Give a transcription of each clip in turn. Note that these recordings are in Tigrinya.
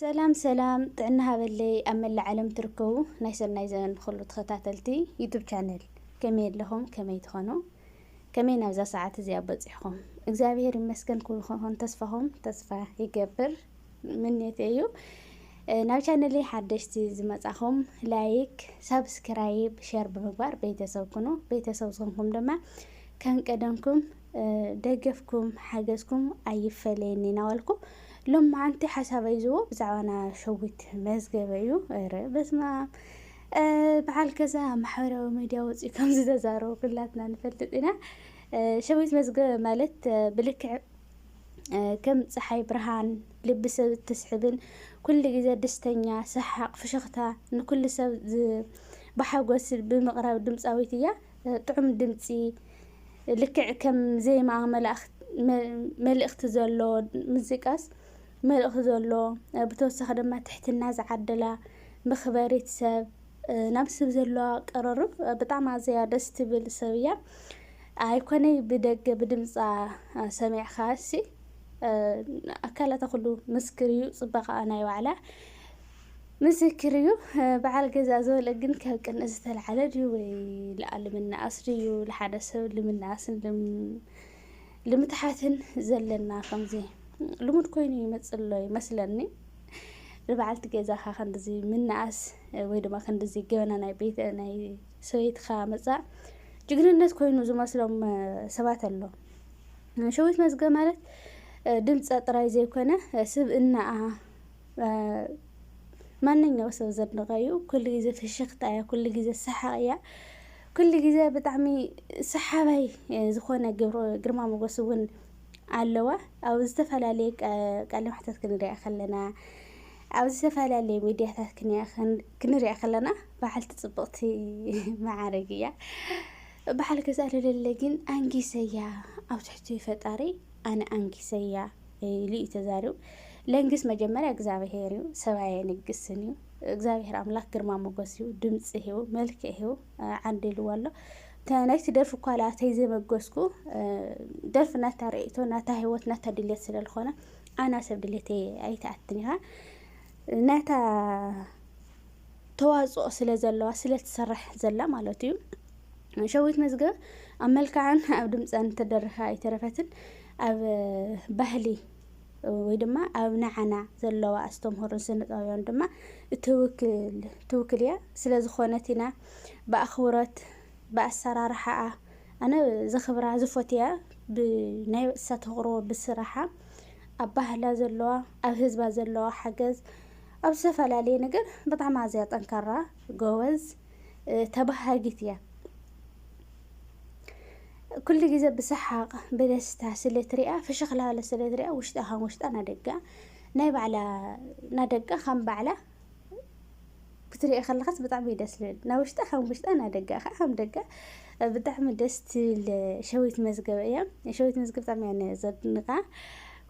ሰላም ሰላም ጥዕና ሃበለይ ኣብ መላእ ዓለም ትርከቡ ናይ ሰናይ ዘመን ኩሉ ተኸታተልቲ ዩቱብ ቻነል ከመይ ኣለኹም ከመይ ትኾኑ ከመይ ናብዛ ሰዓት እዚኣ በፂሕኹም እግዚኣብሄር ይመስገን ኩሉ ክኾን ተስፋኹም ተስፋ ይገብር ምንየተይ እዩ ናብ ቻነለይ ሓደሽቲ ዝመጻኹም ላይክ ሳብስክራይብ ሸር ብምግባር ቤተሰብ ኩኑ ቤተሰብ ዝኾንኩም ድማ ከም ቀደምኩም ደገፍኩም ሓገዝኩም ኣይፈለየኒ ናበልኩ ሎም መዓንቲ ሓሳበይ ዝቦ ብዛዕባና ሸዊት መዝገበ እዩ ረ በስማ በዓል ከዛ ማሕበራዊ ሚዲያ ወፅኡ ከም ዝተዛረቡ ኩላትና ንፈልጥ ኢና ሸዊት መዝገበ ማለት ብልክዕ ከም ፀሓይ ብርሃን ልቢ ሰብ እትስሕብን ኩሉ ግዜ ደስተኛ ሰሓቕ ፍሽኽታ ንኩሉ ሰብ ብሓጎስ ብምቕራብ ድምፃዊት እያ ጥዑም ድምፂ ልክዕ ከም ዜማ መልእኽቲ ዘሎ ሙዚቃስ መልእኽቲ ዘሎ ብተወሳኺ ድማ ትሕትና ዝዓደላ መኽበሪት ሰብ ናብ ሰብ ዘለዋ ቀረርብ ብጣዕሚ ኣዘያ ደስ ትብል ሰብ እያ። ኣይኮነይ ብደገ ብድምፃ ሰሚዕኻ እሲ ኣካላታ ኩሉ ምስክር እዩ፣ ፅባቐኣ ናይ ባዕላ ምስክር እዩ። በዓል ገዛ ዝበለ ግን ካብ ቅንእ ዝተልዓለ ድዩ ወይ ልኣልምናኣስ ድዩ? ልሓደ ሰብ ልምናኣስን ልም ልምትሓትን ዘለና ከምዚ ልሙድ ኮይኑ ይመጽእ ኣሎ ይመስለኒ። ንበዓልቲ ገዛኻ ክንድዚ ምንኣስ ወይ ድማ ክንድዚ ገበና ናይ ቤት ናይ ሰበይትኻ ምጻእ ጅግንነት ኮይኑ ዝመስሎም ሰባት ኣሎ። ሸዊት መዝገብ ማለት ድምፀ ጥራይ ዘይኮነ ስብእናኣ ማንኛው ሰብ ዘድንቐ እዩ። ኩሉ ግዜ ፍሽኽታ እያ፣ ኩሉ ግዜ ሰሓቕ እያ። ኩሉ ግዜ ብጣዕሚ ሰሓባይ ዝኾነ ግርማ ሞጎስ እውን ኣለዋ። ኣብ ዝተፈላለየ ቃለ መሕተት ክንሪኣ ከለና ኣብ ዝተፈላለየ ሚድያታት ክንሪኣ ከለና በዓልቲ ፅብቕቲ መዓርግ እያ። በዓል ገዛ ለለለ ግን ኣንጊሰያ ኣብ ትሕቲ ፈጣሪ ኣነ ኣንጊሰያ። ኢሉ እዩ ተዛሪቡ። ለንግስ መጀመርያ እግዚኣብሄር እዩ፣ ሰብ ኣየንግስን እዩ። እግዚኣብሄር ኣምላኽ ግርማ ሞገስ እዩ፣ ድምፂ እዩ፣ መልክዕ እዩ ዓንዲልዎ ኣሎ። ናይቲ ደርፊ እኳ ላተይ ዘመገስኩ ደርፊ ናታ ርእቶ ናታ ህይወት ናታ ድሌት ስለ ዝኾነ ኣና ሰብ ድሌተይ ኣይትኣትን ኢኻ ናታ ተዋፅኦ ስለ ዘለዋ ስለ ትሰርሕ ዘላ ማለት እዩ። ሸዊት መዝገብ ኣብ መልክዓን ኣብ ድምፀን ትደርፍ ኣይተረፈትን ኣብ ባህሊ ወይ ድማ ኣብ ንዓና ዘለዋ ኣስተምህሮን ስነጥበባውያን ድማ እትውክል ትውክል እያ ስለ ዝኾነት ኢና ብኣኽብሮት ብኣሰራርሓኣ ኣነ ዘኽብራ ዝፎትያ ብናይ እሳ ተቕርቦ ብስራሓ ኣብ ባህላ ዘለዋ ኣብ ህዝባ ዘለዋ ሓገዝ ኣብ ዝተፈላለየ ነገር ብጣዕሚ ኣዝያ ጠንካራ ጎበዝ ተባሃጊት እያ። ኩሉ ግዜ ብሰሓቕ ብደስታ ስለ ትሪኣ ፍሽኽ ላለ ስለ ትሪኣ ውሽጣ ከም ውሽጣ ናደጋ ናይ ባዕላ ናደጋ ከም ባዕላ ክትሪኦ ከለኻስ ብጣዕሚ እዩ ደስ ልብል። ናብ ውሽጣ ከም ውሽጣ ናብ ደጋ ከዓ ከም ደጋ ብጣዕሚ ደስ ትብል ሸዊት መዝገብ እያ ሸዊት መዝገብ ብጣዕሚ እያ ነ ዘድንቃ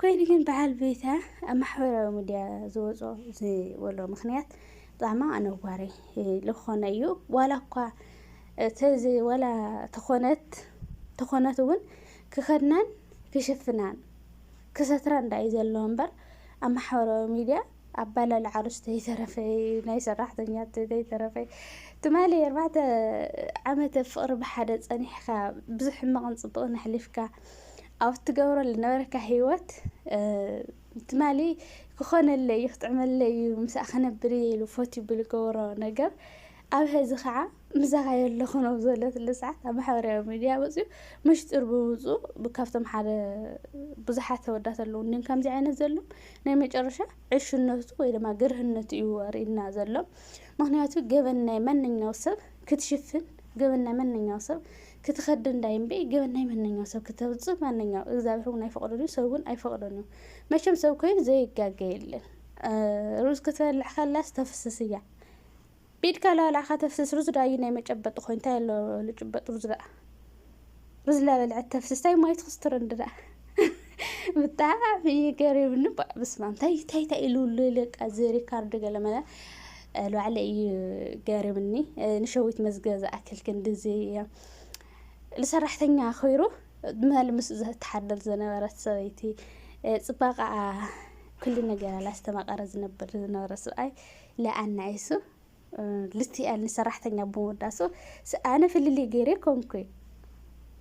ኮይኑ ግን በዓል ቤታ ኣብ ማሕበራዊ ሚድያ ዝወፅኦ ዝበሎ ምክንያት ብጣዕሚ ኣነዋሪ ልኾነ እዩ ዋላ እኳ ተዚ ዋላ ተኾነት ተኾነት እውን ክኸድናን ክሽፍናን ክሰትራን ዳእዩ ዘለዎ እምበር ኣብ ማሕበራዊ ሚድያ ኣባላልዓ ርስቲ ዘይተረፈ ናይ ሰራሕተኛት ዘይተረፈ ትማሊ ኣርባዕተ ዓመተ ፍቅሪ ብሓደ ጸኒሕካ ብዙሕ ሕማቕን ጽቡቕን ኣሕሊፍካ ኣብ ትገብሮ ዝነበረካ ሂወት ትማሊ ክኾነለይ እዩ ክጥዕመለይ እዩ ምስኣ ክነብር እየ ኢሉ ፈትዩ ብዝገበሮ ነገር ኣብ ሀዚ ከዓ ምሳኻ'የ ኣለኹ ናብ ዝበለትሉ ሰዓት ኣብ ማሕበራዊ ሚድያ ወጺኡ ምሽጥር ብምውጽኡ ካብቶም ሓደ ብዙሓት ኣወዳት ኣለዉ እንድዮም ከምዚ ዓይነት ዘሎም ናይ መጨረሻ ዕሽነቱ ወይ ድማ ግርህነቱ እዩ ኣርእዩና ዘሎ ምክንያቱ ገበን ናይ ማንኛው ሰብ ክትሽፍን ገበን ናይ ማንኛው ሰብ ክትኸዲ እንዳይ እምበይ ገበን ናይ ማንኛው ሰብ ክተውጽእ ማንኛው እግዚኣብሔር እውን ኣይፈቕዶን እዩ ሰብ እውን ኣይፈቕዶን እዩ መቸም ሰብ ኮይኑ ዘይጋገ የለን ሩዝ ክትበልዕ ከላስ ተፍስስ እያ ቢድካ ላላ ከተፍስስ ሩዝ ዳዩ ናይ መጨበጢ ኮይኑ እንታይ ኣሎ ልጭበጥ ሩዝ ደኣ ሩዝ ላበልዐት ተፍስስ ታይ ማይ ትክስትር እንዲ ደኣ ብጣዕሚ እዩ ገሪምኒ ባእ ብስማም እንታይ እንታይ እንታይ ኢሉ ልልቃ እዚ ሪካርድ ገለመለ ባዕለ እዩ ገሪምኒ ንሸዊት መዝገ ዝኣክል ክንድዚ ንሰራሕተኛ ኮይሩ መል ምስ ዝተሓደር ዝነበረት ሰበይቲ ፅባቐኣ ኩሉ ነገራ ላስተማቐረ ዝነበር ዝነበረ ሰብኣይ ለኣና እሱ ልትኣል ንሰራሕተኛ ብምወዳሱ ኣነ ፍልልይ ገይረ ኮንኩይ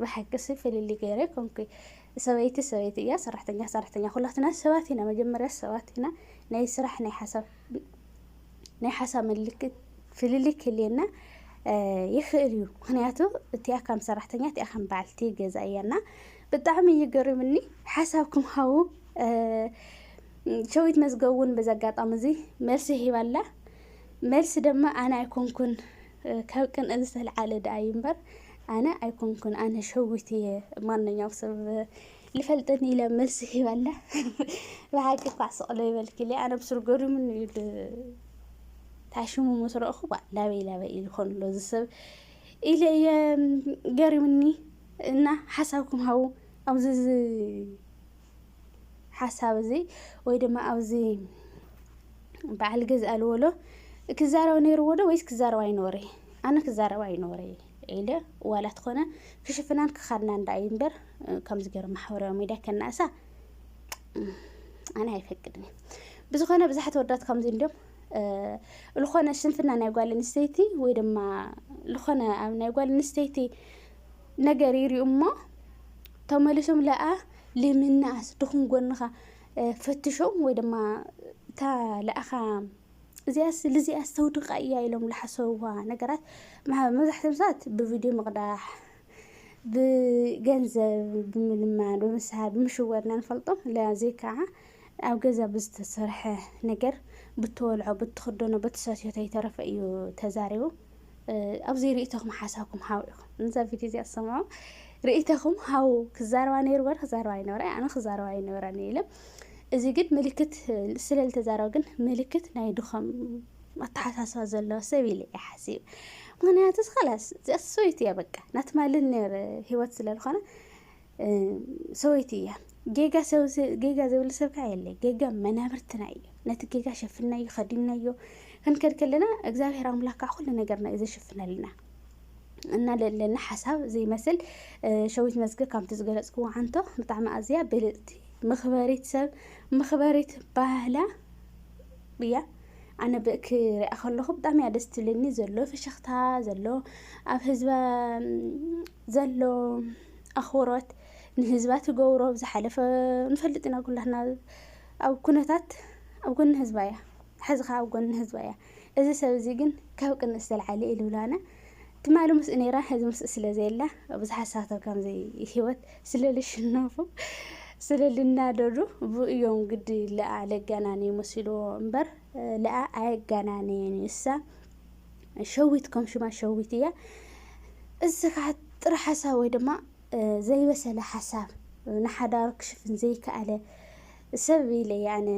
ብሓቂሲ ፍልልይ ገይረ ኮንኩይ ሰበይቲ ሰበይቲ እያ ሰራሕተኛ ሰራሕተኛ ኩላትና ሰባት ኢና መጀመርያ ሰባት ኢና ናይ ስራሕ ናይ ሓሳብ ናይ ሓሳብ ምልክት ፍልልይ ክልየና ይኽእል እዩ ምክንያቱ እቲኣ ከም ሰራሕተኛ እቲኣ ከም በዓልቲ ገዛ እያና ብጣዕሚ እዩ ገሪምኒ ሓሳብኩም ሃቡ ሸዊት መዝገብ እውን በዚ ኣጋጣሚ እዚ መልሲ ሂባ ኣላ። መልሲ ድማ ኣነ ኣይኮንኩን ካብ ቅንኢ ዝተልዓለ ደኣ እዩ እምበር ኣነ ኣይኮንኩን ኣነ ሸዊት እየ ማንኛው ሰብ ልፈልጠኒ ኢለ መልሲ ሂባ ኣላ። ብሓቂ እኳ ስቕሎ ይበልኪ ኢለ ኣነ ብስሩ ገሪሙኒ እዩ ታሽሙ ምስ ረእኹ ባ ላበይ ላበይ ኢሉ ኾን ኣሎ እዚ ሰብ ኢለ እየ ገሪሙኒ እና ሓሳብኩም ሃቡ ኣብዚ ሓሳብ እዚ ወይ ድማ ኣብዚ በዓል ገዛ ኣልወሎ ክዛረብ ነይርዎ ዶ ወይስ ክዛረብ ኣይነበረ ኣነ ክዛረብ ኣይነበረ ኢለ ዋላ ትኾነ ክሽፍናን ክኻድና እንዳ እዩ እምበር ከምዚ ገይሩ ማሕበራዊ ሚዲያ ከናእሳ ኣነ ኣይፈቅድን ብዝኾነ ብዙሓት ወዳት ከምዚ እንዲም ዝኾነ ስንፍና ናይ ጓል ኣንስተይቲ ወይ ድማ ዝኾነ ኣብ ናይ ጓል ኣንስተይቲ ነገር ይሪኡ እሞ ተመልሶም ለኣ ልምንኣስ ድኹም ጎንኻ ፈትሾ ወይ ድማ እታ ልኣኻ እዚኣስ ልዚኣስ ተውድቃ እያ ኢሎም ልሓሰብዋ ነገራት መብዛሕትኦም ሰባት ብቪድዮ ምቕዳሕ ብገንዘብ ብምልማን ብምስሓብ ብምሽወድ ኢና ንፈልጦም ለዚ ከዓ ኣብ ገዛ ብዝተሰርሐ ነገር ብትበልዖ ብትኽደኖ ብትሰትዮ ተይተረፈ እዩ ተዛሪቡ ኣብዚ ርእይቶኹም ሓሳብኩም ሃቡ ኢኹም ንዛ ቪድዮ እዚኣ ዝሰምዑ ርእይቶኹም ሃቡ ክዛረባ ነይሩ በር ክዛረባ ይነበረ ኣነ ክዛረባ ይነበረ ኢለ እዚ ግን ምልክት ስለ ዝተዛረበ ግን ምልክት ናይ ድኾም ኣተሓሳስባ ዘለዎ ሰብ ኢለ እየ ሓሲብ ምክንያቱ ኸላስ እዚኣ ሰበይቲ እያ በቃ ናትማልን ነይር ሂወት ስለ ዝኾነ ሰወይቲ እያ ጌጋ ጌጋ ዝብል ሰብ ከዓ የለ ጌጋ መናብርትና እዩ ነቲ ጌጋ ሸፍናዮ ከዲምናዮ ክንከድ ከለና እግዚኣብሔር ኣምላክ ከዓ ኩሉ ነገርና እዩ ዘሽፍነልና እና ለለና ሓሳብ ዘይመስል ሸዊት መዝገ ካብቲ ዝገለፅክዎ ዓንቶ ብጣዕሚ ኣዝያ ብልፅቲ ምኽበሪት ሰብ ምኽበሪት ባህላ እያ ኣነ ክሪኣ ከለኹ ብጣዕሚ እያ ደስ ትብለኒ ዘሎ ፍሽኽታ ዘሎ ኣብ ህዝበ ዘሎ ኣኽብሮት ንህዝባ ትገብሮ ኣብ ዝሓለፈ ንፈልጥ ኢና ኩላትና ኣብ ኩነታት ኣብ ጎኒ ህዝባ እያ ሐዚ ኸኣ ኣብ ጎኒ ህዝባ እያ እዚ ሰብ እዚ ግን ካብ ቅንእ ዝተልዓለ ኢሉላና ትማሊ ምስኡ ነይራ ሐዚ ምስኡ ስለ ዘየላ ብዙሓት ሳቶ ከምዚ ህይወት ስለ ልሽነፉ ስለ ልናደዱ ብኡ እዮም ግዲ ለኣ ለጋናነዩ መሲልዎ እምበር ለኣ ኣየጋናነየን እዩ እሳ ሸዊት ከም ሽማ ሸዊት እያ። እዚ ከዓ ጥረ ሓሳብ ወይ ድማ ዘይበሰለ ሓሳብ ንሓዳሩ ክሽፍን ዘይከኣለ ሰብ ኢለ እየ ኣነ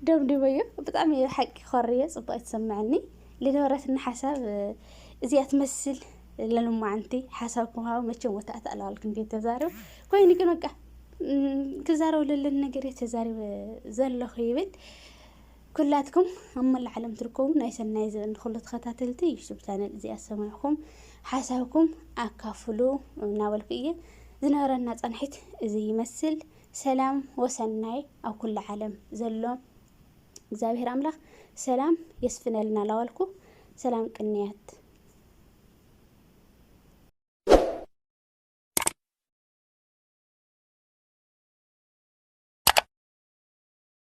ደምዲመዮ። ብጣዕሚ እዩ ሓቂ ኮሪ እየ ፅቡቅ ኣይትሰምዐኒ ልነበረትና ሓሳብ እዚኣ ትመስል ለልማዓንቲ ሓሳብ ክምሃቡ መቸም ወታ ኣተኣለዋልክን ቤት ተዛረብ ኮይኑ ግን በቃ ክዛረብ ለለን ነገር እየ ተዛሪበ ዘለኹ ይብል ኩላትኩም ኣብ መላእ ዓለም ትርከቡ ናይ ሰናይ ዘበን ንኹሉ ተኸታተልቲ ዩቱብ ቻነል እዚኣ ዝሰማዕኹም ሓሳብኩም ኣካፍሉ እናበልኩ እየ ዝነበረና ፃንሒት እዚ ይመስል። ሰላም ወሰናይ ኣብ ኩሉ ዓለም ዘሎ እግዚኣብሔር ኣምላኽ ሰላም የስፍነልና ላዋልኩ ሰላም ቅንያት